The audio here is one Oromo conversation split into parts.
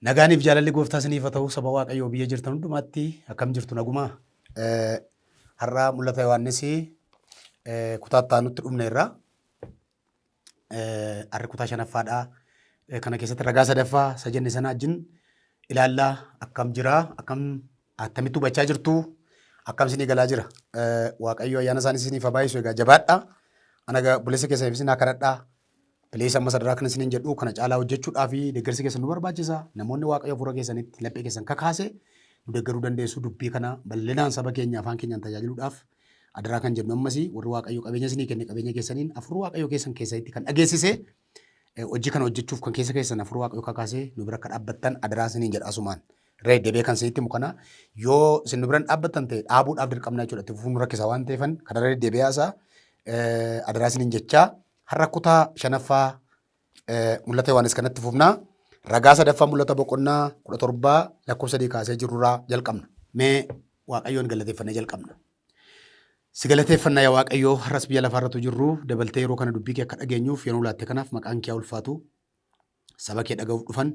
Nagaaniif jaalalli gooftaa isiniif haa ta'u saba Waaqayyoo biyya jirtan hundumaatti akkam jirtu nagumaa? Har'aa mul'ata Yohaannis kutaa itti aanutti dhumneerra. Arri kutaa shanaffaadha. Kana keessatti ragaa sadaffaa isa jenne sana wajjin ilaallaa akkam jira akkam attamitti hubachaa jirtu akkam isinii galaa jira. Waaqayyo ayyaana isaanii isiniif haa baay'isu egaa jabaadha. Ana egaa buleessa keessaniif isin haa kadhadhaa. Bilees amma sadarkaa kana isiniin jedhu kana caalaa hojjechuudhaa fi deeggarsi keessan nu barbaachisa. Namoonni waaqayyo hafuura keessanitti laphee keessan kakaase nu deeggaruu dandeessu dubbii kana bal'inaan saba keenya afaan keenyaan tajaajiluudhaaf Adaraa kan jennu ammasii warri Waaqayyo qabeenya isinii kenne qabeenya keessaniin afur Waaqayyo keessan keessanitti kan dhageessise hojii kana hojjechuuf kan keessa keessan afur Waaqayyo kakaasee nu bira akka dhaabbattan adaraa isiniin jedha asumaan. Ree debee kan isinitti himu kana yoo isin nu biran dhaabbattan ta'e dhaabuudhaaf dirqamna jechuudha. Itti fufuun rakkisa waan ta'eefan kana ree debee haasaa adaraa isiniin jechaa har'a kutaa shanaffaa Mul'ata Yohaannis kanatti fufna. Ragaa sadaffaa mul'ata boqonnaa kudha torbaa lakkoofsa sadii kaasee jirurraa jalqabna. Mee Waaqayyoon galateeffannee jalqabna. Si galateeffanna yaa Waaqayyoo har'as biyya lafaa irratti jirru dabaltee yeroo kana dubbii kee akka dhageenyuuf yeroo laatte kanaaf maqaan kee ulfaatu saba kee dhaga'uuf dhufan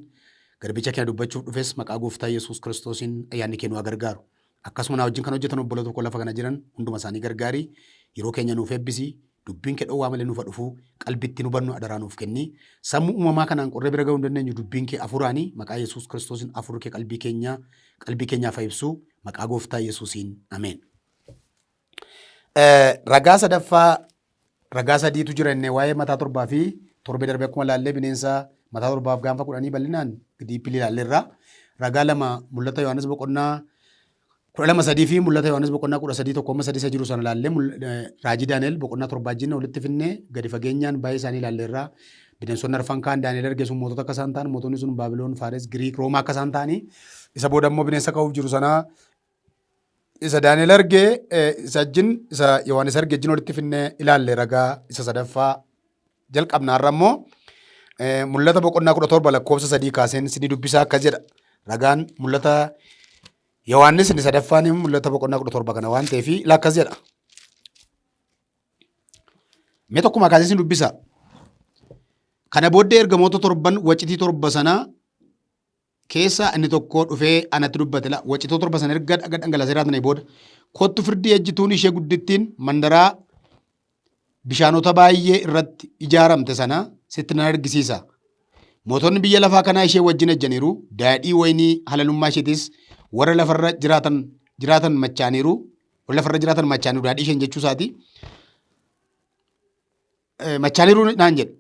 garbicha kee dubbachuuf dhufes maqaa gooftaa Yesuus Kiristoosiin ayyaanni kee nu gargaaru. Akkasuma naa wajjin kan hojjetan obboloota koo lafa kana jiran hunduma isaanii gargaari. Yeroo keenya nuuf eebbisi. Dubbiin kee dhowwaa malee nuuf haa dhufu. Qalbii ittiin hubannu adaraa nuuf kenni. Sammuu uumamaa kanaan qorree bira ga'uu hin dandeenyu dubbiin kee hafuuraani. Maqaa Yesuus Kiristoosiin hafuurri kee qalbii keenya qalbii keenyaaf haa ibsu. Maqaa Gooftaa Yesuusiin. Ameen. Eh, Ragaa sadaffaa ragaa sadiitu jira inni waa'ee mataa torbaa fi torbee darbee akkuma ilaallee bineensa mataa torbaaf gaanfa kudhanii bal'inaan diippilii ilaalleerra. Ragaa lama mul'ata Yohaannis boqonnaa kudha lama sadii fi mul'ata Yohaannis boqonnaa kudha sadii tokko amma sadii isa jiru sana ilaallee mul- eh, raajii Daani'el boqonnaa torbaa wajjin walitti finnee gadi fageenyaan baay'ee isaanii ilaalleerra. Bineensonni arfan kaan Daani'el arge sun mootota akka isaan ta'an mootonni sun Baabiloon, Faares, Giriik, Roomaa akka isaan ta'anii isa booda immoo bineensa ka'uuf jiru sanaa isa Daani'el arge eh, isa ajjin isa Yohaannis arge ajjin walitti finne ilaalle ragaa isa sadaffaa jalqabna har'a immoo eh, mul'ata boqonnaa kudha torba lakkoofsa sadii kaaseen sinni dubbisaa akkas jedha ragaan mul'ata Yohaannis inni sadaffaan immoo mul'ata boqonnaa kudha torba kana waan ta'eef ila akkas jedha mee tokkuma kaasee sin dubbisa kana booddee ergamoota torban wacitii torba sanaa keessaa inni tokkoo dhufee anatti dubbate la wacitoo torba san erga dhaga dhangalasee raatnee booda kottu firdii ejjituun ishee guddittiin mandaraa bishaanota baay'ee irratti ijaaramte sana sitti nan argisiisa. Mootonni biyya lafaa kanaa ishee wajjin ejjaniiru, daadhii waynii halalummaa isheetis warra lafarra jiraatan jiraatan machaaniiru, warra lafarra jiraatan machaaniiru daadhii isheen jechuu isaati. Machaaniiru naan jedhe.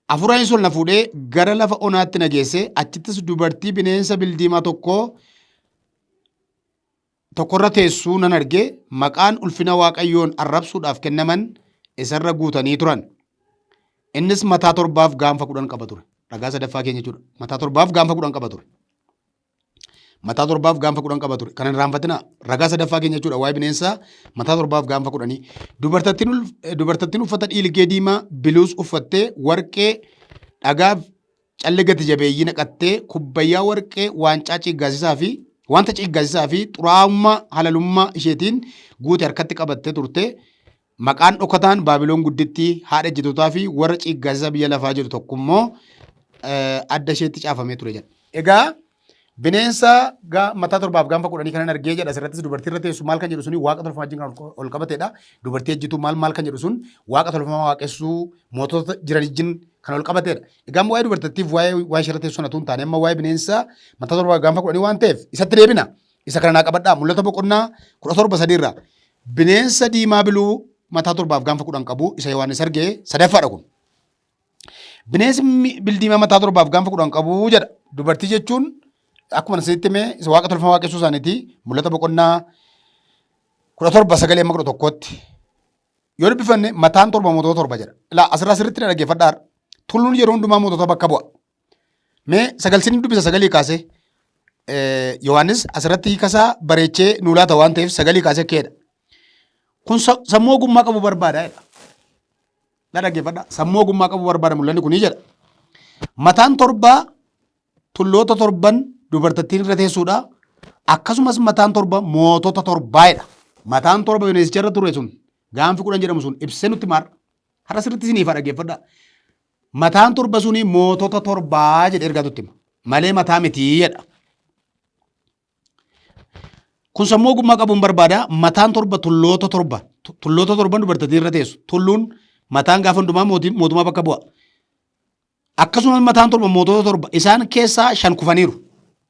Hafuuraanis ol na fuudhee gara lafa onaatti na geesse, achittis dubartii bineensa bildiimaa tokko tokkorra teessuu nan arge, maqaan ulfina Waaqayyoon arrabsuudhaaf kennaman isarra guutanii turan. Innis mataa torbaaf gaanfa kudhan qaba ture. Ragaa sadaffaa keenya jechuudha. Mataa torbaaf gaanfa kudhan qaba ture. Mataa torbaaf gaanfa kudhan qaba ture. Kana hin raanfatinaa. Ragaa sadaffaa keenya jechuudha. Waa'ee bineensaa mataa torbaaf gaanfa kudhanii. Dubartattiin ul- eh, dubartattiin uffata dhiilgee diimaa biluus uffattee warqee dhagaaf callee gati jabeeyyii naqattee kubbayyaa warqee waancaa ciiggaasisaa fi wanta ciiggaasisaa fi xuraa'ummaa halalummaa isheetiin guute harkatti qabattee turte. Maqaan dhokataan Baabilon Guddittii, haadha ejjitootaa fi warra ciiggaasisaa biyya lafaa jedhu tokko immoo adda isheetti caafamee ture jedha. Egaa bineensa mataa torbaaf gaanfa kudhanii kanan argee jedha asirrattis dubartii irra teessu maal kan jedhu suni waaqa tolfamaa wajjin kan ol qabateedha. Dubartii ejjituu maal maal kan jedhu sun waaqa tolfamaa waaqessuu mootota jiran wajjin kan ol qabateedha. Egaa waa'ee dubartittiif waa'ee waa'ee ishee irra teessu sanatu hin taane amma waa'ee bineensa mataa torbaaf gaanfa kudhanii waan ta'eef isatti deebina. Isa kana naa qabadhaa. Mul'ata boqonnaa kudha torba sadii irraa. Bineensa diimaa biluu mataa torbaaf gaanfa kudhan qabu isa Yohaannis arge sadaffaadha kun. Bineensi mi- bildiimaa mataa torbaaf gaanfa kudhan qabu jedha. Dubartii jechuun akkuma isinitti hime isa waaqa tolfamaa waaqessuu isaaniiti. Mul'ata boqonnaa kudha torba sagalee amma kudha tokkootti. Yoo dubbifanne mataan torba mootota torba jedha. Ilaa asirraa sirriitti na dhaggeeffadhaa. Tulluun yeroo hundumaa mootota bakka bu'a. Mee sagal sin dubbisa sagalii kaasee. Yohaannis asirratti hiikasaa bareechee nuu laata waan ta'eef sagalii kaasee keedha. Kun sammuu ogummaa qabu barbaada jedha. Na dhaggeeffadha. Sammuu ogummaa qabu barbaada mul'anni kunii jedha. Mataan torbaa tulloota torban dubartattiin irra teessuudha. Akkasumas mataan torba mootota torbaa jedha. Mataan torba bineensicha irra ture sun gaanfi kudhan jedhamu sun ibsee nutti maara. Har'a sirriitti isiniif haa dhaggeeffadha. Mataan torba suni mootota torbaa jedhe ergaa tutti hima. Malee mataa mitii jedha. Kun sammuu ogummaa qabuun barbaada. Mataan torba tulloota torba. Tu- Tulloota torban dubartittiin irra teessu. Tulluun mataan gaafa hundumaa mootiin- mootummaa bakka bu'a. Akkasumas mataan torba mootota torba. Isaan keessaa shan kufaniiru.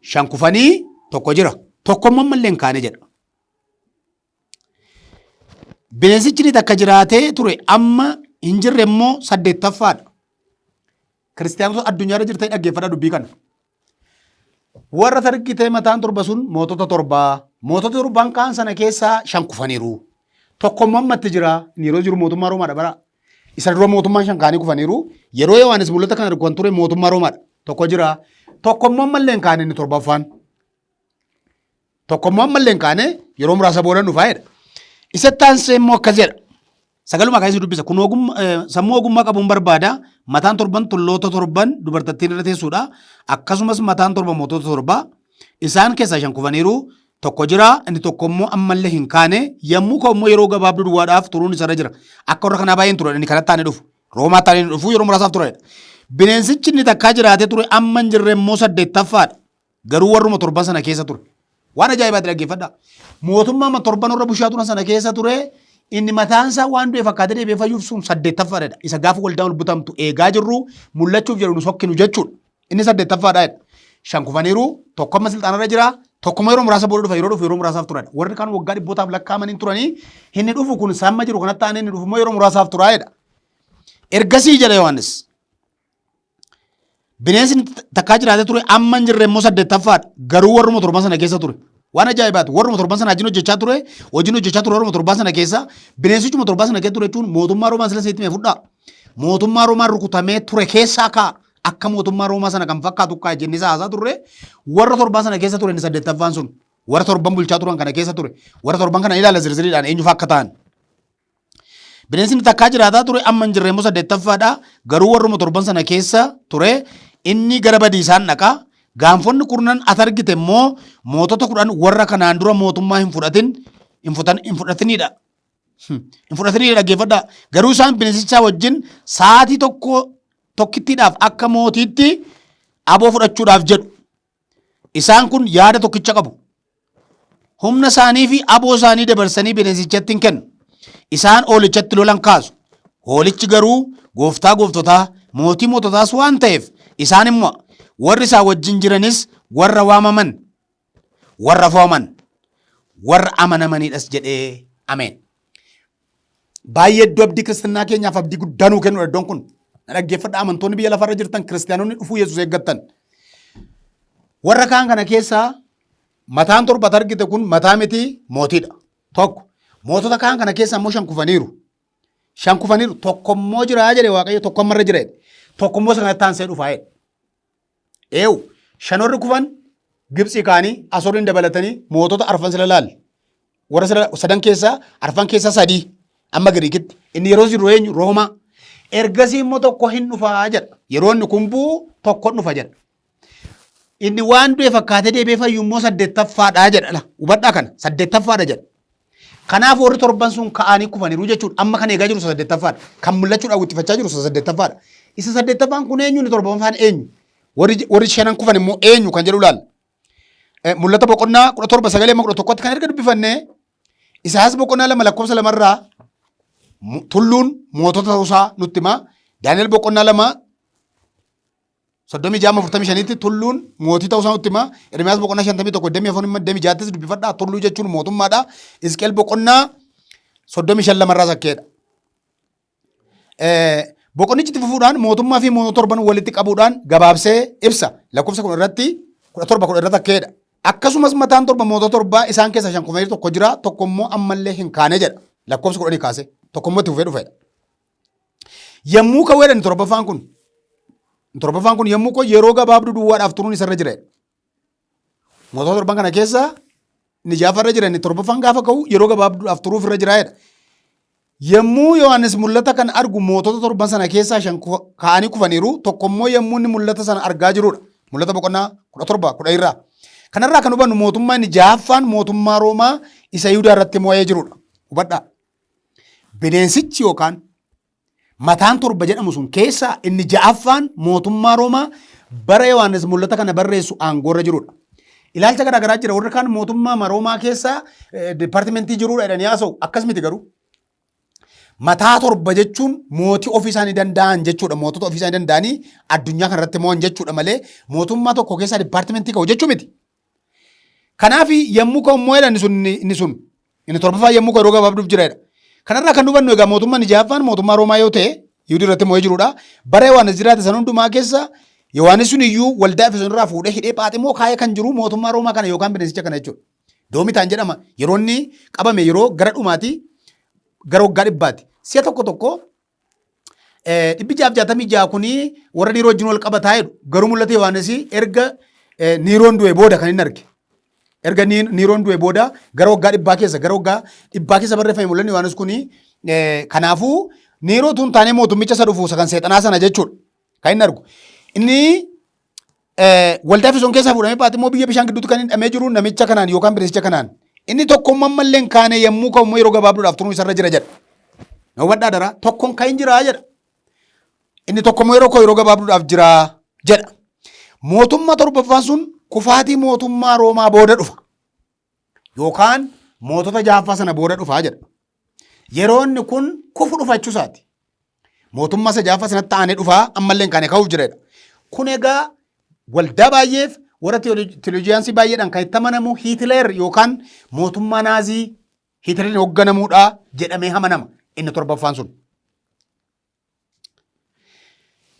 Shan kufanii tokko jira. Tokko immoo ammallee hin kaane jedha. Bineensichi inni takka jiraatee ture amma hin jirre immoo saddeettaffaadha. Kiristiyaanota addunyaa irra jirtee dhaggeeffadha dubbii kana. Warra targitee mataan torba sun mootota torbaa. Mootota torban kaan sana keessaa shan kufaniiru. Tokko immoo ammatti jira. Inni yeroo jiru mootummaa Roomaadha bara Isa dura mootummaan shan kaanii kufaniiru. Yeroo Yohaannis mul'ata kana kan ture mootummaa Roomaadha. Tokko jira. Tokko immoo ammallee hin kaane inni torbaffaan. Tokko immoo ammallee hin kaane yeroo muraasa booda dhufaa jedha. Isa taansee immoo akkas jedha. Sagaluma kaasee dubbisa. Kun ogummaa- eh, sammuu ogummaa qabuun barbaada. Mataan torban tulloota torban dubartattiin irra teessuudha. Akkasumas mataan torba mootota torba Isaan keessaa shan kufaniiru, tokko jira, inni tokko immoo ammallee hin kaane, yommuu ka'u immoo yeroo gabaabduu duwwaadhaaf turuun isarra jira. Akka warra kanaa baay'een turan inni kanatti aanee dhufu. Roomaa taanee inni dhufu yeroo muraasaaf turedha. Bineensichi inni takkaa jiraatee ture amma hin jirre immoo saddeettaffaadha. Garuu warruma torban sana keessa ture. Waan ajaa'ibaatti dhaggeeffadha. Mootummaa amma torban warra bushaa turan sana keessa ture inni mataan isaa waan du'e fakkaatee deebi'ee fayyuuf sun saddeettaffaadha. Isa gaafa waldaan ol butamtu eegaa jirru mul'achuuf jedhu nu sokkinu jechuudha. Inni saddeettaffaadha jedha. Shan kufaniiru, tokko amma silxaanarra jira, tokkuma yeroo muraasa booda dhufa, yeroo dhufu yeroo muraasaaf turan. Warri kaan waggaa dhibbootaaf lakkaa'amanii turanii, inni dhufu kun isa amma jiru kanatti aanee inni dhufu immoo yeroo muraasaaf turaa jedha. Ergasii jedha Yohaannis. Bineensi inni takkaa jiraatee ture amma hin jirre immoo saddeettaffaadha. Garuu warruma torban sana keessa ture. Waan ajaa'ibaati. Warruma torban sana hojiin hojjechaa ture, hojiin hojjechaa ture warruma torban sana keessa. Bineensichuma torban sana keessa ture jechuun mootummaa Roomaan sila seetti mee fudhaa. Mootummaa Roomaan rukutamee ture keessaa ka'a. Akka mootummaa Roomaa sana kan fakkaatu kaa jennee isa haasaa turre warra torban sana keessa ture inni saddeettaffaan sun warra torban bulchaa turan kana keessa ture warra torban kana ilaala zirziriidhaan eenyufa akka ta'an. Bineensi inni takkaa jiraataa ture amma hin jirre immoo saddeettaffaadha garuu warruma torban sana keessa ture inni gara badiisaan dhaqa. Gaanfonni kurnan at argite immoo mootota kudhan warra kanaan dura mootummaa hin fudhatin hin fudhatinidha. Hin fudhatanii dhaggeeffadhaa. Garuu isaan bineensichaa wajjin sa'aatii tokko tokkittiidhaaf akka mootiitti aboo fudhachuudhaaf jedhu. Isaan kun yaada tokkicha qabu. Humna isaanii fi aboo isaanii dabarsanii bineensichatti hin kennu. Isaan hoolichatti lolan kaasu. Hoolichi garuu gooftaa gooftotaa mootii moototaas waan ta'eef isaan immoo warri isaa wajjin jiranis warra waamaman warra fooman warra amanamaniidhas jedhee ameen. Baay'ee iddoo abdii kiristinnaa keenyaaf abdii guddaa nuu kennudha iddoon kun. Na dhaggeeffadha amantoonni biyya lafarra jirtan kiristiyaanonni dhufuu Yesuus eeggattan. Warra kaan kana keessaa mataan torbat argite kun mataa miti mootiidha. Tokko mootota kaan kana keessaa immoo shan kufaniiru. Shan kufaniiru tokko immoo jira jedhe waaqayyo tokko ammarra jira jedhe. Tokko immoo isa kanatti aansee dhufaa jedhe. Eewu, shan warri kufan Gibtsii kaanii Asoriin dabalatanii mootota arfan sila laal. Warra sila sadan keessaa arfan keessaa sadii amma Giriikitti. Inni yeroo jiru eenyu? Roomaa. Ergasii immoo tokko hin dhufaa jedha. Yeroo inni kun bu'u tokko hin dhufa jedha. Inni waan du'e fakkaatee deebi'ee fayyu immoo saddeettaffaadha jedha. Hubadhaa kana saddeettaffaadha jedha. Kanaaf warri torban sun ka'anii kufaniiru jechuudha. Amma kan eegaa jiru isa saddeettaffaadha. Kan mul'achuu daawwittifachaa jiru isa saddeettaffaadha. Isa saddeettaffaan kun eenyu inni torbaffaan eenyu? Warri warri shanan kufan immoo eenyu kan jedhu ilaalla. Eh, Mul'ata boqonnaa kudha torba sagalee amma kudha tokkotti kan erga dubbifanne Isaayyaas boqonnaa lama lakkoofsa lamarraa mu- tulluun mootota ta'uusaa nutti hima. Daani'el boqonnaa lama soddomii jaama afurtamii shaniitti tulluun mootii ta'uu isaa nutti hima. Ermiyaas boqonnaa shantamii tokko damee afur himma damee jaattis dubbifadhaa tulluu jechuun mootummaadha. Isqeel boqonnaa soddomii shan lamarraa sakkeedha. Boqonnichi itti fufuudhaan mootummaa fi mootota torban walitti qabuudhaan gabaabsee ibsa. Lakkoofsa kun irratti kudha torba kudha irra takkeedha. Akkasumas mataan torba mootota torbaa isaan keessaa shan kufanii tokko jira tokko immoo ammallee hin kaane jedha. Lakkoofsa kudhanii kaasee tokko immoo itti fufee dhufeedha. Yommuu ka'u jedhan torbaffaan kun. Torbaffaan kun yommuu ka'u yeroo gabaabduu duwwaadhaaf turuun isarra jira. Mootota torban kana keessa inni jaafa irra jira inni torbaffaan gaafa ka'u yeroo gabaabduudhaaf turuuf irra jira jedha. Yommuu Yohaannis mul'ata kana argu mootota torban sana keessaa shan kufa- ka'anii kufaniiru tokko immoo yommuu inni mul'ata sana argaa jirudha. Mul'ata boqonnaa kudha torba kudha irraa. Kanarraa kan hubannu mootummaa inni jaaffaan mootummaa Roomaa isa Yihudaa irratti mo'ee jirudha. Hubadhaa. Bineensichi yookaan mataan torba jedhamu sun keessaa inni ja'affaan mootummaa Roomaa bara Yohaannis mul'ata kana barreessu aangoorra jirudha. Ilaalcha garaagaraa jira. Warri kaan mootummaa Roomaa keessaa eh, dipaartimentii jirudha jedhanii haasa'u. Akkas miti garuu. Mataa torba jechuun mootii ofii isaanii danda'an jechuudha. Mootota ofii isaanii danda'anii addunyaa kanarratti mo'an jechuudha malee mootummaa tokko keessaa dipaartimentii ka'u jechuu miti. Kanaaf yommuu ka'u immoo jedha inni sun inni- inni sun inni torbaffaa yommuu ka'u yeroo gabaabduuf jira jedha. Kanarraa kan hubannu egaa mootummaan inni jahaffaan mootummaa Roomaa yoo ta'e Yihudii irratti mo'ee jirudha. Bara Yohaannis jiraate san hundumaa keessa Yohaannis sun iyyuu waldaa Efesoon irraa fuudhee hidhee phaaximoo kaa'ee kan jiru mootummaa Roomaa kana yookaan bineensicha kana jechuudha. Doomitaan jedhama yeroo inni qabame yeroo gara dhumaati gara waggaa dhibbaati. Si'a tokko tokko dhibbi jaaf jaatamii ja'a kunii warra dhiiroo wajjin wal qabataa jedhu garuu mul'ata Yohaannis erga niiroon du'e booda kan inni arge. Erga niiroon du'e booda gara waggaa dhibbaa keessa gara waggaa dhibbaa keessa barreeffame mul'anni Yohaannis kunii kanaafuu niiroo tun taanee mootummicha isa dhufu isa kan seexanaa sana jechuudha kan inni argu. Inni waldaa Efesoon keessaa fuudhamee Phaaximmoo biyya bishaan gidduutti kan hidhamee jiru namicha kanaan yookaan bireessicha kanaan. Inni tokkoon mammallee hin kaane yommuu ka'u immoo yeroo gabaabduudhaaf turuu isarra jira jedha. Na hubadhaa daraa tokkoon kan hin jiraa jedha. Inni tokko immoo yeroo koo yeroo gabaabduudhaaf jiraa jedha. Mootummaa torbaffaan sun kufaatii mootummaa Roomaa booda dhufa. yookaan mootota jaaffaa sana booda dhufaa jedha. Yeroonni kun kufu dhufachuu isaati. Mootummaa isa jaaffaa sanatti aanee dhufaa ammallee kan ka'uuf jiredha. Kun egaa waldaa baay'eef warra teoloojiyaansii baay'eedhaan kan itti amanamu Hiitileer yookaan mootummaa naazii Hiitileeriin hoogganamuudha jedhamee amanama inni torbaffaan sun.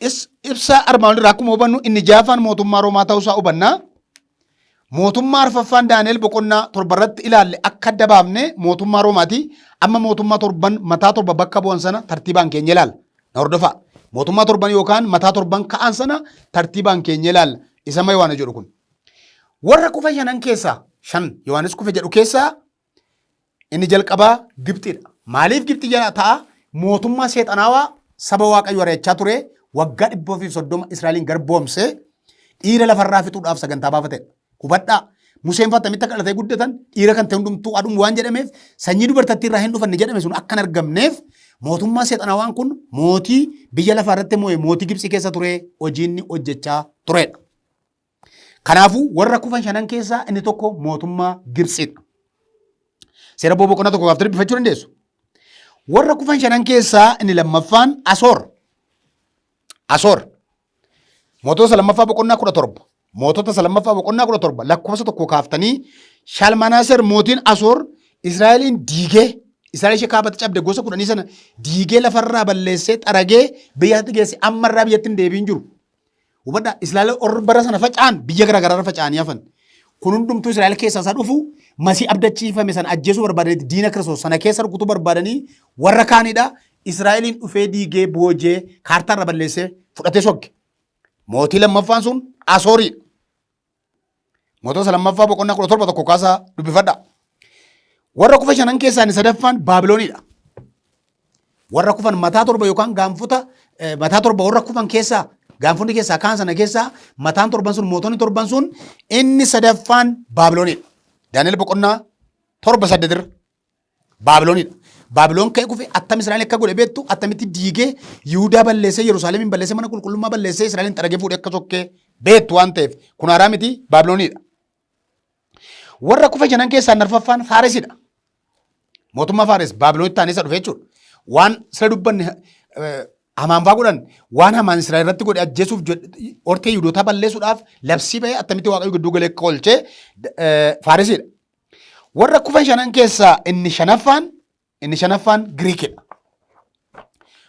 Is- Ibsa armaan olirraa akkuma hubannu inni jaafaan mootummaa Roomaa ta'uusaa hubanna. Mootummaa arfaffaan Daani'el boqonnaa torba irratti ilaalle akka adda baafne mootummaa Roomaati. Amma mootummaa torban mataa torba bakka bu'an sana tartiibaan keenya ilaalla. Na hordofaa. Mootummaa torban yookaan mataa torban ka'an sana tartiibaan keenya ilaalla. Isa ma Yohaana jedhu kun. Warra kufa shanan keessaa shan Yohaanis kufe jedhu keessaa Inni jalqabaa Gibxiidha. Maaliif Gibxi jala ta'a? Mootummaa seexanaawaa saba Waaqayyo ari'achaa ture waggaa dhibba ofii fi soddoma Israa'eliin garboomsee dhiira lafarraa fixuudhaaf sagantaa baafatedha. Hubadhaa Museen fa'a tamitti akka dhalatee guddatan dhiira kan ta'e hundumtuu adhumu waan jedhameef sanyii dubartattii irraa hin dhufanne jedhame sun akka hin argamneef mootummaa seexanaawaan kun mootii biyya lafaa irratti moo'e mootii Gibxii keessa ture hojiinni hojjechaa turedha. Kanaafuu warra kufan shanan keessaa inni tokko mootummaa Gibtsidha. Seera Boo boqonnaa tokko gaaftanii dubbifachuu dandeessu. Warra kufan shanan keessaa inni lammaffaan Asoor. Asoor. Mootota isa lammaffaa boqonnaa kudha torba. Mootota isa lammaffaa boqonnaa kudha torba lakkoofsa tokko kaaftanii Shalmanaaser mootiin Asoor Israa'eliin diigee Israa'el ishee kaabatti cabde gosa kudhanii sana diigee lafarraa balleessee xaragee biyyatti geesse ammarraa biyyatti hin deebiin jiru. Hubadhaa Israa'el warri bara sana faca'an biyya garaa garaarra faca'anii hafan. Kun hundumtuu Israa'el keessaa isa dhufu masii abdachiifame sana ajjeesuu barbaadaniiti diina Kiristoos sana keessa rukutuu barbaadanii warra kaanidha. Israa'eliin dhufee diigee boojee kaartaarra balleessee fudhatee sokke. Mootii lammaffaan sun Asooriidha. Mootota lammaffaa boqonnaa kudha torba tokko kaasaa dubbifadha. Warra kufa shanan keessaa inni sadaffaan Baabiloonidha. Warra kufan mataa torba yookaan gaanfota eh, mataa torba warra kufan keessaa gaanfonni keessaa kaan sana keessaa mataan torban sun mootonni torban sun inni sadaffaan Baabiloonidha. Daani'el boqonnaa torba saddeetirra Baabiloonidha. Baabiloon ka'ee kufe attam Israa'el akka godhe beektu attamitti diigee Yihudaa balleessee Yerusaalemiin balleessee mana qulqullummaa balleessee Israa'eliin xaragee fuudhee akka sokkee beektu waan ta'eef kun haaraa miti Baabiloonidha. Warra kufe janan keessaa narfaffaan Faaresidha. Mootummaa Faares Baabiloonitti taanee isa dhufe jechuudha. Waan sila dubbanne eh, hamaanfaa godhan waan hamaan Israa'el irratti godhe ajjeesuuf jedhe- hortee Yihudootaa balleessuudhaaf labsii ba'ee attamitti Waaqayyo gidduu galee akka oolchee eh, Faaresidha. Warra kufan shanan keessaa inni shanaffaan inni shanaffaan Giriikidha.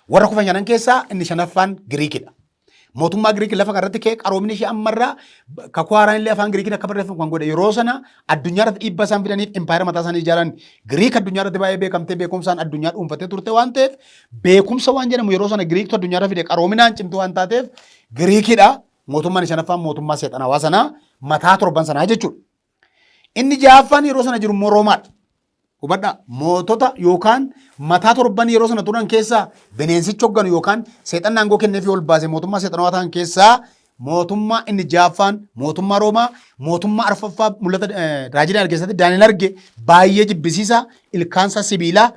Warra kufan shanan keessaa inni shanaffaan Giriikidha. Mootummaa Giriik lafa kanarratti ka'ee qaroomni ishee ammarraa kakuu haaraan illee afaan Giriikiin akka barreeffamu kan godhe yeroo sana addunyaa irratti dhiibbaa isaan fidaniif impaayera mataa isaanii ijaaran Giriik addunyaa irratti baay'ee beekamtee beekumsaan addunyaa dhuunfattee turte waan ta'eef beekumsa waan jedhamu yeroo sana Giriiktu addunyaa irra fide qaroominaan cimtuu waan taateef Giriikidha. Mootummaan shanaffaan mootummaa seexanawaa sanaa mataa torban sanaa jechuudha. Inni ja'affaan yeroo sana jiru immoo Roomaadha. Hubadhaa mootota yookaan mataa torban yeroo sana turan keessaa bineensichi hogganu yookaan seexanni aangoo kennee fi ol baase mootummaa seexanawaa ta'an keessaa mootummaa inni ja'affaan mootummaa Roomaa mootummaa arfaffaa mul'ata raajii Daani'el keessatti Daani'el arge baay'ee jibbisiisa ilkaansa sibiilaa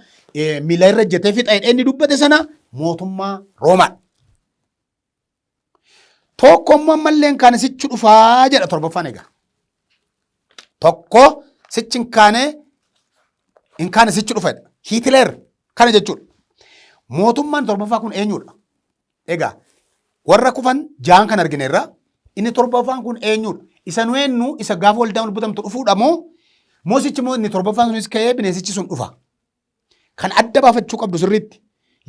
miila irra jetee fixa inni dubbate sana mootummaa Roomaadha. Tokko immoo ammallee hin kaane sichi dhufaa jedha torbaffaan egaa. Tokko sichi hin kaane hin kaane sichi dhufa jedha. Hiitileer kana jechuudha. Mootummaan torbaffaa kun eenyudha? Egaa warra kufan jaan kan argineerra inni torbaffaan kun eenyudha? Isa nu eenyu isa gaafa waldaan ol butamtu dhufuudha moo moo sichi moo inni torbaffaan sunis ka'ee bineensichi sun dhufa? Kan adda baafachuu qabdu sirriitti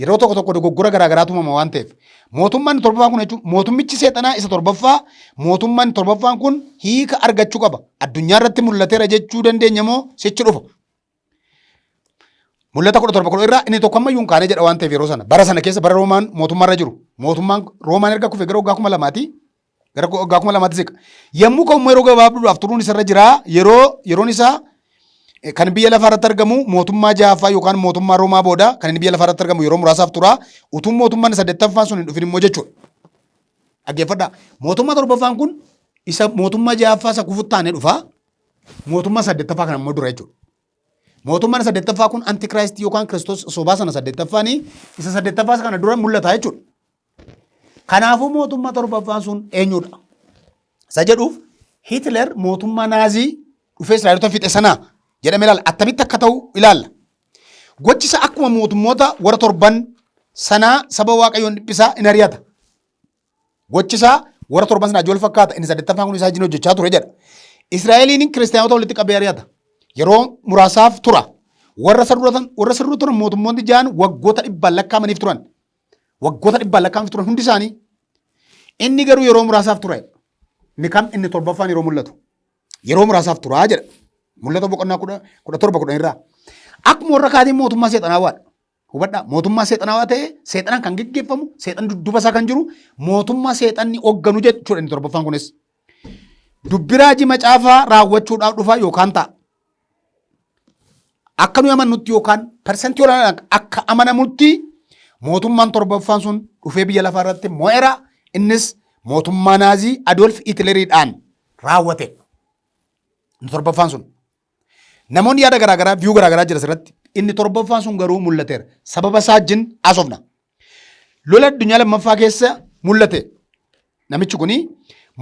yeroo tokko tokko dogoggora garaa garaatu uumama waan ta'eef mootummaan inni torbaffaan kun jechuun mootummichi seexanaa isa torbaffaa mootummaan inni torbaffaan kun hiika argachuu qaba. Addunyaa irratti mul'ateera jechuu dandeenya moo sichi dhufa? Mul'ata kudha torba kudha irraa inni tokko ammayyuu hin kaane jedha waan ta'eef yeroo sana bara sana keessa bara Roomaan mootummaa irra jiru mootummaan Roomaan erga kufee gara waggaa kuma lamaati Gara ko- waggaa kuma lamaatti siqa. Yommuu ka'u immoo yeroo gabaabduudhaaf turuun isarra jira. Yeroo yeroon isaa eh, kan biyya lafaa irratti argamu mootummaa jahaffaa yookaan mootummaa Roomaa booda kan inni biyya lafaa irratti argamu yeroo muraasaaf tura. Utuu mootummaan saddeettaffaan sun hin dhufin immoo jechuudha. Dhaggeeffadhaa. Mootummaa torbaffaan kun isa mootummaa jahaffaa isa kufutti aanee dhufa. Mootummaa saddeettaffaa kana immoo dura jechuudha. Mootummaan saddeettaffaa kun antikiraayistii yookaan kiristoos sobaa sana saddeettaffaanii isa saddeettaffaa isa kana dura mul'ata jechuudha. Kanaafuu mootummaa torbaffaan sun eenyudha? Isa jedhuuf Hitler mootummaa naazii dhufee Israa'elota fixe sana jedhamee ilaalla. Attamitti akka ta'u ilaalla. Gochi isaa akkuma mootummoota warra torban sanaa saba waaqayyoon dhiphisaa in ari'ata. Gochi isaa warra torban sanaa ijool fakkaata. Inni saddeettaffaan kun isaa wajjin hojjechaa ture jedha. Israa'eliin kiristaanota walitti qabee ari'ata. Yeroo muraasaaf tura. Warra sirruu turan mootummoonni ja'an waggoota dhibbaan lakkaa'amaniif turan. Waggoota dhibbaan lakkaa'amtu turan hundi isaanii. Inni garuu yeroo muraasaaf tura. Inni kam inni torbaffaan yeroo mul'atu. Yeroo muraasaaf turaa jedha. Mul'ata boqonnaa kudha kudha torba kudhan irraa. Akkuma warra kaatiin mootummaa seexanaawaadha. Hubadhaa mootummaa seexanaawaa ta'ee seexanaan kan geggeeffamu seexan dudduba isaa kan jiru mootummaa seexanni hoogganu jechuudha inni torbaffaan kunis. Dubbi raajii macaafaa raawwachuudhaaf dhufaa yookaan ta'a. akka nuyi amannutti yookaan parsantii olaanaan akka amanamutti mootummaan torbaffaan sun dhufee biyya lafaa irratti mo'era. Innis mootummaa naazii Adolf Hitleriidhaan raawwate. Inni torbaffaan sun. Namoonni yaada garaagaraa viyuu garaagaraa jira asirratti. Inni torbaffaan sun garuu mul'ateera. Sababa isaa wajjin asofna. Lola addunyaa lammaffaa keessa mul'ate. Namichi kun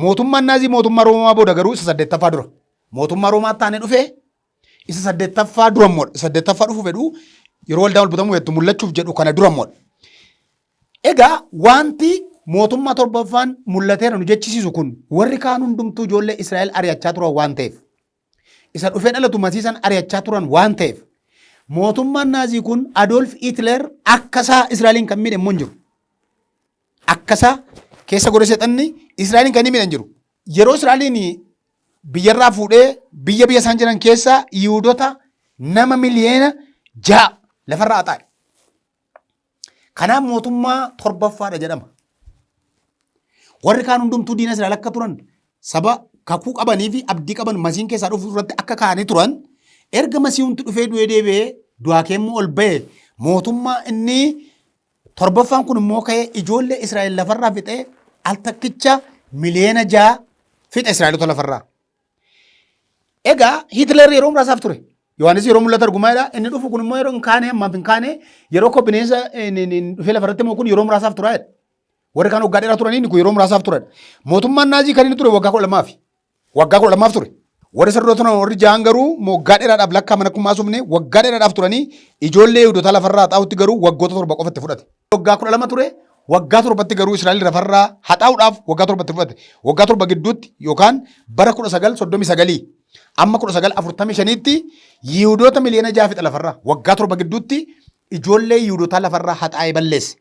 mootummaan naazii mootummaa Roomaa booda garuu isa saddeettaffaa dura. Mootummaa Roomaa taane dhufee isa saddeettaffaa dura immoo isa saddeettaffaa dhufu fedhu yeroo waldaan wal butamuu jettu mul'achuuf jedhu kana dura immoo. Egaa wanti mootummaa torbaffaan mul'ateera nu jechisiisu kun warri kaan hundumtuu ijoollee Israa'el ari'achaa turan waan ta'eef. isa dhufee dhalatu Masii san ari'achaa turan waan ta'eef mootummaan Naazii kun Adoolf Hitler akkasaa Israa'eliin kan miidhe immoo hin jiru. Akkasaa keessa godhe seexanni Israa'eliin kan inni miidhan jiru. Yeroo Israa'eliin biyyarraa fuudhee biyya biyya isaan jiran keessaa Yihuudota nama miliyeena ja'a lafarraa haxaa'e. Kanaaf mootummaa torbaffaadha jedhama. Warri kaan hundumtuu diina Israa'el akka turan saba kakuu qabanii fi abdii qaban masiin keessaa dhufu irratti akka kaa'anii turan erga masiihumti dhufee du'ee deebi'ee du'aa keemmoo ol ba'e mootummaa inni torbaffaan kun immoo ka'ee ijoollee Israa'el lafarraa fixee al takkicha miliyoona ja'a fixa Israa'elota lafarraa. Egaa Hitler yeroo muraasaaf ture. Yohaannis yeroo mul'ata argumaadha. Inni dhufu kun immoo yeroo hin kaane ammaaf hin kaane yeroo koo bineensa dhufee lafarratti immoo kun yeroo muraasaaf tura. Warri kaan waggaa dheeraa turanii inni kun yeroo muraasaaf ture. Mootummaan naazii kan inni ture waggaa kudha lamaafi. Waggaa kudha lamaaf ture. Warri sarara turan warri jahan garuu waggaa dheeraadhaaf lakkaa mana kummaa sumne waggaa dheeraadhaaf turanii ijoollee Yihudotaa lafarraa haxaa'utti garuu waggoota torba qofa itti fudhate. waggaa kudha lama ture waggaa torbatti garuu Israa'el lafarraa haxaa'uudhaaf waggaa torbatti fudhate. Waggaa torba gidduutti yookaan bara kudha sagal soddomii sagalii amma kudha sagal afurtamii shaniitti Yihudoota miliyoona ja'a fixa lafarraa waggaa torba gidduutti ijoollee Yihudootaa lafarraa haxaa'ee balleesse.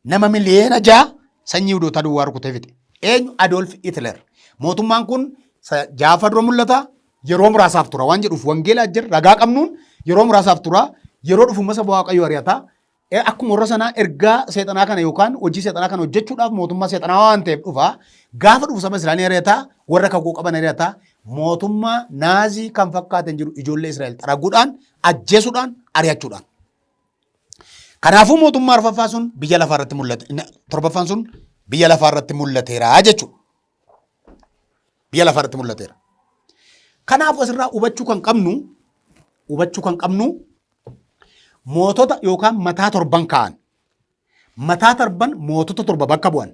Nama miliyoona ja'a sanyii Yihudootaa duwwaa rukutee fixe. Eenyu Adolf Hitler. Mootummaan kun sa- jaafa dura mul'ata yeroo muraasaaf tura waan jedhuuf wangeelaa jira ragaa qabnuun yeroo muraasaaf tura yeroo dhufumasa waaqayyo ari'ata Eh, Akkuma warra sanaa ergaa seexanaa kana yookaan hojii seexanaa kana hojjechuudhaaf mootummaa seexanaa waan ta'eef dhufa. Gaafa dhufu saba Israa'el ari'ata, warra kakuu qaban ari'ata. Mootummaa naazii kan fakkaatan jiru ijoollee Israa'el xaraguudhaan, ajjeesuudhaan, ari'achuudhaan. Kanaafuu mootummaa arfaffaa sun biyya lafaa irratti mul'ate. Inni Torbaffaan sun biyya lafaa irratti mul'ateera jechuudha. Biyya lafaa irratti mul'ateera. Kanaafuu asirraa hubachuu kan qabnu hubachuu kan qabnu mootota yookaan mataa torban kaa'an. Mataa torban mootota torba bakka bu'an.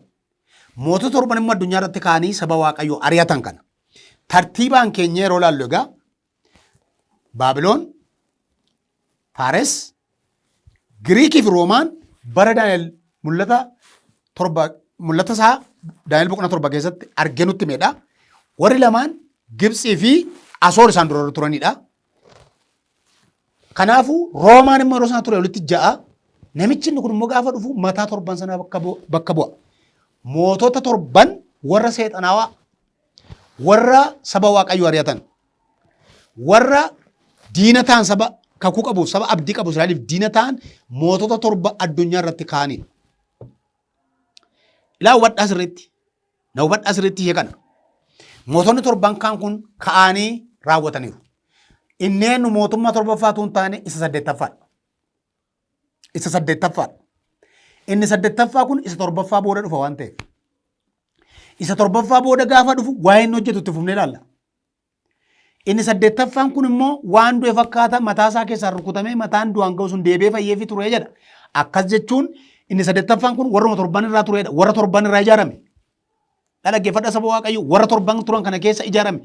Mootota torban immoo addunyaa irratti kaa'anii saba Waaqayyoo ari'atan kana. Tartiibaan keenya yeroo ilaallu egaa Baabiloon, Faares, Giriikii fi Roomaan bara Daani'el mul'ata torba mul'ata isaa Daani'el boqonnaa torba keessatti argee nutti himedha. Warri lamaan Gibtsii fi Asoor isaan dura turanidha. Kanaafuu Roomaan immoo yeroo sana ture walitti ja'a. Namichi inni kun immoo gaafa dhufu mataa torban sanaa bakka bu- bakka bu'a. Mootota torban warra seexanaawaa Warra saba Waaqayyo ari'atan, warra diina ta'an saba kakuu qabuuf, saba abdii qabu Israa'eliif diina ta'an mootota torba addunyaa irratti kaa'anii. Ilaa hubadhaa sirriitti. Na hubadhaa sirriitti ishee kana. Mootonni torban kaan kun ka'anii raawwataniiru. Inneen mootummaa torbaffaatu hin taane isa saddeettaffaadha. Isa saddeettaffaadha. Inni saddeettaffaa kun isa torbaffaa booda dhufa waan ta'eef. Isa torbaffaa booda gaafa dhufu waa'ee inni hojjetu itti fufnee ilaalla. Inni saddeettaffaan kun immoo waan du'e fakkaata mataa isaa keessaan rukutamee mataan du'aan ga'u sun deebi'ee fayyeefi ture jedha. Akkas jechuun inni saddeettaffaan kun warruma torban irraa turedha. Warra torban irraa ijaarame. Na dhaggeeffadha saba Waaqayyo warra torban turan kana keessa ijaarame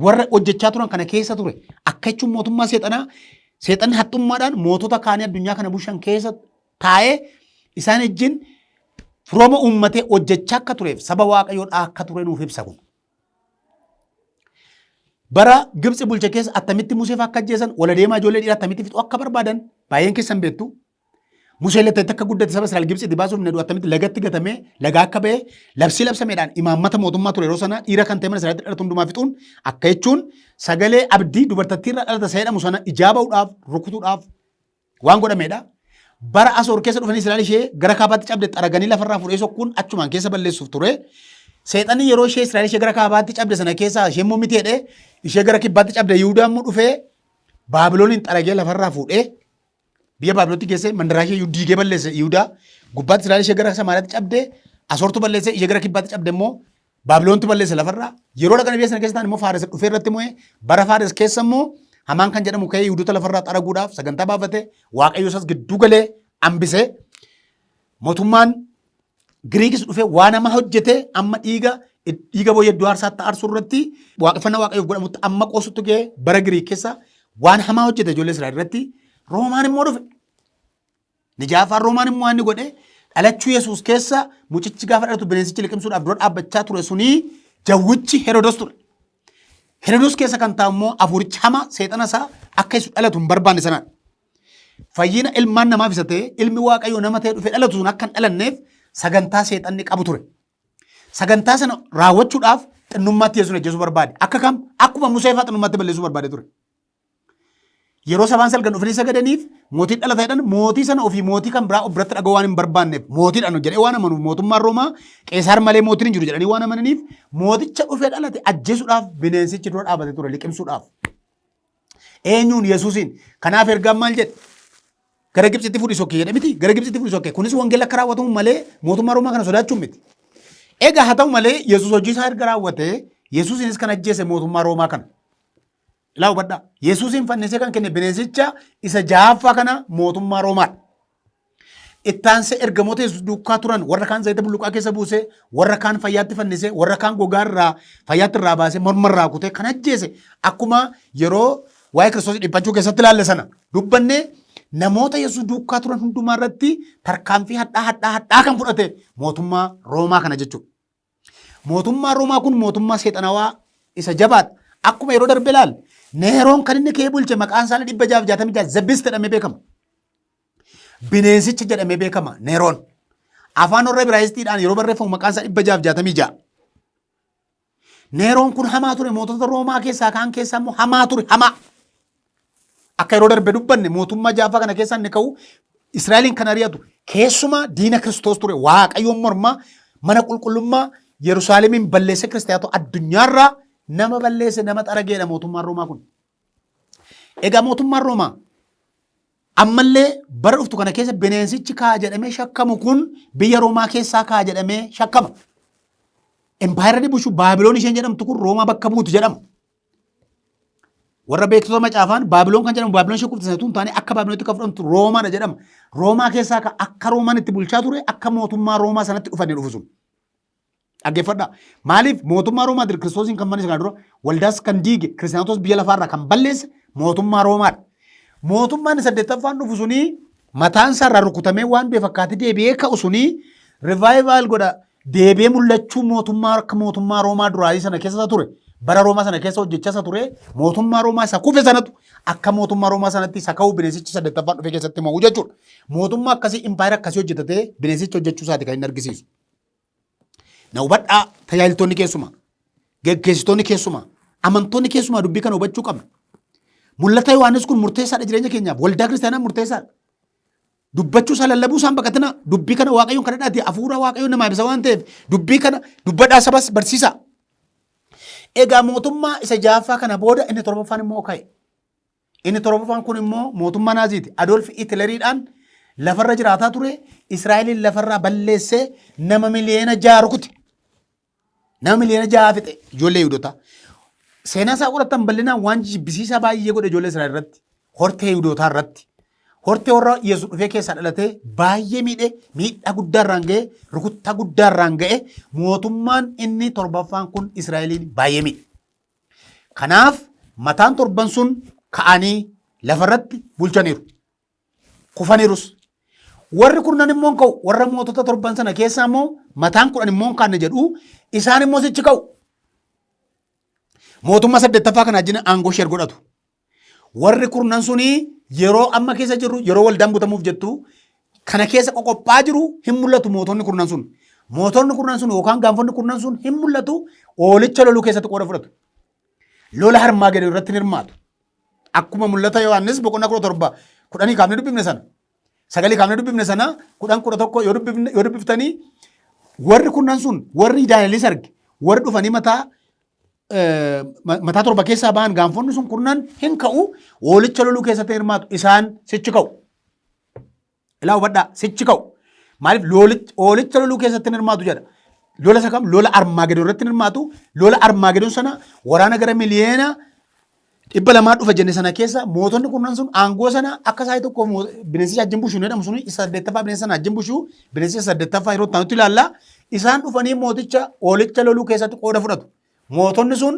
warra hojjechaa turan kana keessa ture akka jechuun mootummaa seexanaa seexanni haxxummaadhaan mootota kaanii addunyaa kana bushan keessa taa'ee isaan ejjin firooma uummatee hojjechaa akka tureef saba Waaqayyoodhaa akka ture nuuf ibsa kun. Bara Gibxi bulcha keessa attamitti Museef akka ajjeesan wal adeemaa ijoollee dhiiraa attamitti fixuu akka barbaadan baay'een keessan beektu Museen lattatti akka guddate saba Israa'el Gibxiitti baasuuf naduu attamitti lagatti gatamee lagaa akka ba'e labsii labsameedhaan imaammata mootummaa ture yeroo sanaa dhiira kan ta'e mana Israa'elitti dhalatu hundumaa fixuun akka jechuun sagalee abdii dubartattii irraa dhalata isa jedhamu sana ijaa ba'uudhaaf rukutuudhaaf waan godhameedha. Bara Asoor keessa dhufanii Israa'el ishee gara kaabaatti cabde xaraganii lafarraa fuudhee sokkuun achumaan keessa balleessuuf ture. Seexanni yeroo ishee Israa'el ishee gara kaabaatti cabde sana keessaa ishee immoo miti jedhee ishee gara kibbaatti cabde Yihudaa immoo dhufee Baabilooniin xaragee lafarraa fuudhee Biyya Baabilootti geessee mandaraa ishee iyyuu diigee balleesse Yihudaa. Gubbaatti Israa'el ishee gara Samaariyaatti cabde. Asoortu balleesse ishee gara kibbaatti cabde immoo Baabiloontu balleesse lafarraa. Yeroo dhaqan biyya sana keessa ta'an immoo Faares dhufee irratti mo'ee bara Faares keessa immoo Hamaan kan jedhamu ka'ee Yihudota lafarraa xaraguudhaaf sagantaa baafate Waaqayyo isas gidduu galee hambisee mootummaan Giriikis dhufee waan hamaa hojjetee amma dhiiga dhiiga booyyee iddoo aarsaatti aarsu irratti waaqeffannaa waaqayyoof godhamutti amma qoosutti ga'ee bara Giriik keessa waan hamaa hojjete ijoollee Israa'el irratti Roomaan immoo dhufe. Nijaafaan Roomaan immoo inni godhe dhalachuu Yesuus keessa mucichi gaafa dhalatu bineensichi liqimsuudhaaf dura dhaabbachaa ture sunii jawwichi Herodos ture. Herodos keessa kan taa'u immoo afuurichi hamaa seexana isaa akka isu dhalatu hin barbaanne sanaan. Fayyina ilmaan namaaf isa ta'e ilmi waaqayyoo nama ta'e dhufe dhalatu sun akka hin dhalanneef sagantaa seexanni qabu ture. Sagantaa sana raawwachuudhaaf xinnummaatti Yesuus ajjeesuu barbaade. Akka kam? Akkuma Musee fa'aa xinnummaatti balleessuu barbaade ture. Yeroo sabaan salgan dhufanii sagadaniif mootiin dhalata jedhan mootii sana ofii mootii kan biraa of biratti dhaga'uu waan hin barbaanneef mootiidhaan jedhee waan amanuuf mootummaan Roomaa Qeesaar malee mootiin hin jiru jedhanii waan amananiif mooticha dhufee dhalate ajjeesuudhaaf bineensichi dura dhaabate ture liqimsuudhaaf. Eenyuun Yesuusiin. Kanaaf ergaan maal jedhe? Gara Gibxitti fudhi sokke jedhe miti. Gara Gibxitti fudhi sokke. Kunis wangeela akka raawwatamu malee mootummaa Roomaa kana sodaachuun miti. Egaa haa ta'u malee Yesuus hojii isaa erga raawwatee Yesuusiinis kan ajjeese mootummaa Roomaa kana. Ilaa hubadhaa. Yesuusiin fannisee kan kenne bineensicha isa jahaffaa kana mootummaa Roomaadha. Itti aansee ergamoota Yesuus duukaa turan warra kaan zayita bulluqaa keessa buusee, warra kaan fayyaatti fannisee, warra kaan gogaa irraa fayyaatti irraa baasee morma irraa kutee kan ajjeese akkuma yeroo waa'ee Kiristoos dhiphachuu keessatti ilaalle sana dubbanne namoota Yesuus duukaa turan hundumaa irratti tarkaanfii hadhaa hadhaa hadhaa kan fudhate mootummaa Roomaa kana jechuudha. Mootummaan Roomaa kun mootummaa seexanawaa isa jabaadha. Akkuma yeroo darbe ilaal Neeroon kan inni kee bulche maqaan isaanii dhibba jaaf jaatamii ja'a zabist jedhamee beekama. Bineensicha jedhamee beekama Neeroon. Afaan warra Ibraayisxiidhaan yeroo barreeffamu maqaan isaa dhibba jaaf jaatamii ja'a. Neeroon kun hamaa ture mootota Roomaa keessaa kaan keessaa immoo hamaa ture hamaa. Akka yeroo darbe dubbanne mootummaa jaaffaa kana keessaa inni ka'u Israa'eliin kan ari'atu keessumaa diina Kiristoos ture Waaqayyoon mormaa mana qulqullummaa Yerusaalemiin balleessee kiristaatoo addunyaarraa nama balleesse nama xarageedha mootummaan Roomaa kun. Egaa mootummaan Roomaa ammallee bara dhuftu kana keessa bineensichi kaa jedhamee shakkamu kun biyya Roomaa keessaa kaa jedhamee shakkama. Empaayeerri bushu Baabiloon isheen jedhamtu kun Roomaa bakka buutu jedhama. Warra beektota macaafaan Baabiloon kan jedhamu Baabiloon ishee kuftisa tun taane akka Baabiloonitti kan fudhamtu Roomaadha jedhama. Roomaa keessaa ka- akka Roomaan itti bulchaa ture akka mootummaa Roomaa sanatti dhufanii dhufu sun. Dhaggeeffadhaa. Maaliif mootummaa Roomaatiin Kiristoosiin kan fannise kana dura waldaas kan diige kiristaanotas biyya lafaarraa kan balleesse mootummaa Roomaadha. Mootummaan inni saddeettaffaan dhufu sunii mataan isaarraa rukutamee waan du'e fakkaatee deebi'ee ka'u sunii rivaayivaal godha deebi'ee mul'achuu mootummaa akka mootummaa Roomaa duraanii sana keessa ture bara Roomaa sana keessa hojjechaa isa ture mootummaa Roomaa isa kufe sanatu akka mootummaa Roomaa sanatti isa ka'u bineensichi saddeettaffaan dhufee keessatti mo'u jechuudha. Mootummaa akkasii impaayera akkasii hojjetatee bineensichi hojjechuu isaati kan inni argisiisu. Na hubadhaa tajaajiltoonni keessumaa geggeessitoonni keessumaa amantoonni keessumaa dubbii kana hubachuu qabna. Mul'ata Yohaannis kun murteessaadha jireenya keenyaaf waldaa kiristaanaa murteessaadha. dubbachuu isaa lallabuu isaan baqatinaa dubbii kana waaqayyoon kana dhaate hafuura waaqayyoon namaa ibsa waan ta'eef dubbii kana dubbadhaa sabas barsiisa. Egaa mootummaa isa jaaffaa kana booda inni torbaffaan immoo ka'e. Inni torbaffaan kun immoo mootummaa naaziiti. Adolf Hitleriidhaan lafarra jiraataa ture Israa'eliin lafarraa balleessee nama miliyoona ja'a rukute. Nama miliyoona ja'a fixe ijoollee Yihudotaa. Seenaa isaa qorattan bal'inaan waan jibbisiisaa baay'ee godhe ijoollee Israa'el irratti. Hortee Yihudotaa irratti. Hortee warra Yesuus dhufee keessaa dhalatee baay'ee miidhe miidhaa guddaa irraan ga'e rukuttaa guddaa irraan ga'e mootummaan inni torbaffaan kun Israa'eliin baay'ee miidhe. Kanaaf mataan torban sun ka'anii lafarratti bulchaniiru. Kufanirus. Warri kurnan immoo hin ka'u. Warra mootota torban sana keessaa immoo mataan kudhan immoo hin kaanne jedhu. Isaan immoo sichi ka'u. Mootummaa saddeettaffaa kana ajjina aangoo ishee godhatu. Warri kurnan suni yeroo amma keessa jirru yeroo waldaan butamuuf jettu kana keessa qoqophaa jiru hin mul'atu mootonni kurnan sun. Mootonni kurnan sun yookaan gaanfonni kurnan sun hin mul'atu oolicha loluu keessatti qooda fudhatu. Lola harmaa gadii irratti hin hirmaatu. Akkuma mul'ata Yohaannis boqonnaa kudha torba kudhanii kaafnee dubbifne sana sagalii kaafnee dubbifne sana kudhan kudha tokko yoo dubbifne- yoo dubbiftanii warri kunnan sun warri Daani'elis arge warri dhufanii mataa eh, ma- mataa torba keessaa ba'an gaanfonni sun kunnan hin ka'u hoolicha loluu keessatti hin hirmaatu isaan sichi ka'u. Ilaa hubadhaa sichi ka'u. Maaliif loolicha hoolicha loluu keessatti hin hirmaatu jedha. Lola isa kam lola armaagedoon irratti hin hirmaatu. Lola armaagedoon sana waraana gara miliyeena dhibba lamaa dhufa jenne sana keessa mootonni kurnan sun aangoo sana akka isaa tokko bineensi ajjin bushuu jedhamu sun isa saddeettaffaa bineensi sana ajjin bushuu bineensi isa saddeettaffaa yeroo ta'anutti ilaalla. Isaan dhufanii mooticha hoolicha loluu keessatti qooda fudhatu. Mootonni sun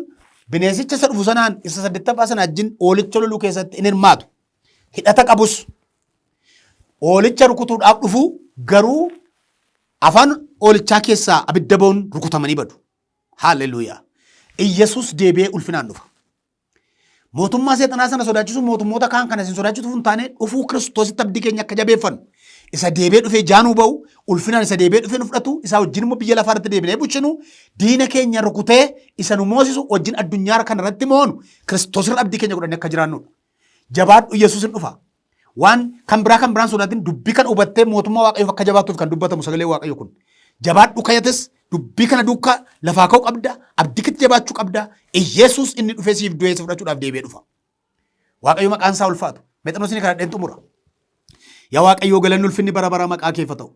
bineensicha isa dhufu sanaan isa saddeettaffaa sana ajjin hoolicha loluu keessatti hin hirmaatu. hidhata qabus oolicha rukutuudhaaf dhufu garuu afaan oolichaa keessaa abidda ba'uun rukutamanii badu. Haalleluuyaa. Iyyasuus deebi'ee ulfinaan dhufa. Mootummaa seexanaa sana sodaachisuun mootummoota kaan kana isin sodaachisu hin taane dhufuu kiristoositti abdii keenya akka jabeeffannu. Isa deebee dhufee jaanuu ba'u ulfinaan isa deebee dhufee nu fudhatu isaa wajjin immoo biyya lafaa irratti deebinee bulchinu diina keenya rukutee isa nu moosisu wajjin addunyaa kana irratti moonu kiristoosirra abdii keenya godhannee akka jiraannudha. Jabaadhu Yesuus hin dhufa. Waan kan biraa kan biraan sodaatin dubbii kana hubattee mootummaa Waaqayyoof akka jabaattuuf kan dubbatamu sagalee Waaqayyo kun. Jabaadhu kayates dubbii kana duukaa lafaa ka'u qabda, abdii keetti jabaachuu qabda. Iyesuus inni dhufee siif du'ee si fudhachuudhaaf deebi'ee dhufa. Waaqayyo maqaan isaa ulfaatu. Mexanoosin kana dheen xumura. Yaa Waaqayyoo galanni ulfinni bara bara maqaa keef haa ta'u.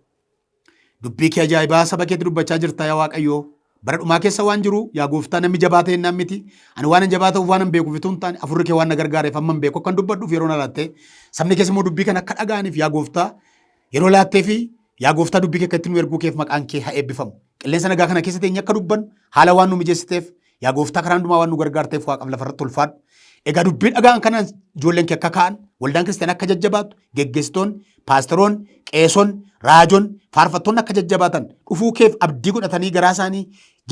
Dubbii kee ajaa'ibaa saba keetti dubbachaa jirta yaa Waaqayyoo. Bara dhumaa keessa waan jiru yaa gooftaa namni jabaa ta'e innaan miti. Ani waan jabaa ta'uuf waan beekuuf utuu hin taane afurri kee waan na gargaareef amma beeku akkan dubbadhuuf yeroo na laatte. Sabni keessa immoo dubbii kana akka dhaga'aniif yaa gooftaa yeroo laattee fi yaa gooftaa dubbii kee akka itti nu erguu keef maqaan kee haa eebbifamu. Qilleensa nagaa kana keessa teenye akka dubbannu haala waan nu mijeessiteef Yaa gooftaa karaa hundumaa waan nu gargaarteef waaqaf lafarratti ulfaadhu. Egaa dubbii dhaga'an kana ijoolleen kee akka ka'an, waldaan kiristaanaa akka jajjabaatu, geggeessitoonni, paastaroonni, qeesonni, raajoonni, faarfattoonni akka jajjabaatan dhufuu keef abdii godhatanii garaa isaanii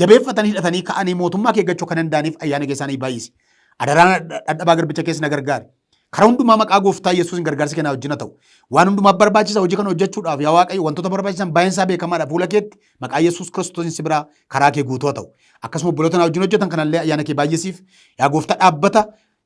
jabeeffatanii hidhatanii ka'anii mootummaa kee eeggachuu akka danda'aniif ayyaana kee isaanii baay'isi. Adaraan dhadhabaa garbicha keessa na gargaari. Karaa hundumaa maqaa gooftaa Yesuusin gargaarsi keenyaa wajjin haa ta'u. Waan hundumaaf barbaachisa hojii kana hojjechuudhaaf yaa Waaqayyo wantoota barbaachisan baay'een isaa beekamaadha fuula keetti maqaa Yesuus Kiristoosiin si biraa karaa kee guutuu haa ta'u. Akkasuma obboloota na wajjin hojjetan kanallee ayyaana kee baay'isiif yaa gooftaa dhaabbata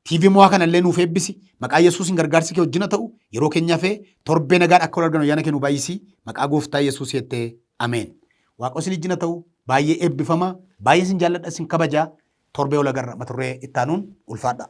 TV mo'aa kanallee nuuf eebbisi maqaa Yesuusin gargaarsi kee wajjin haa ta'u yeroo keenya hafee torbee nagaan akka wal arginu ayyaana kee nu baay'isii maqaa gooftaa Yesuus jettee ameen. Waaqoo isin wajjin haa ta'u baay'ee eebbifama baay'ee isin jaalladha isin kabajaa torbee wal agarra mata duree ittaanuun ulfaadhaa.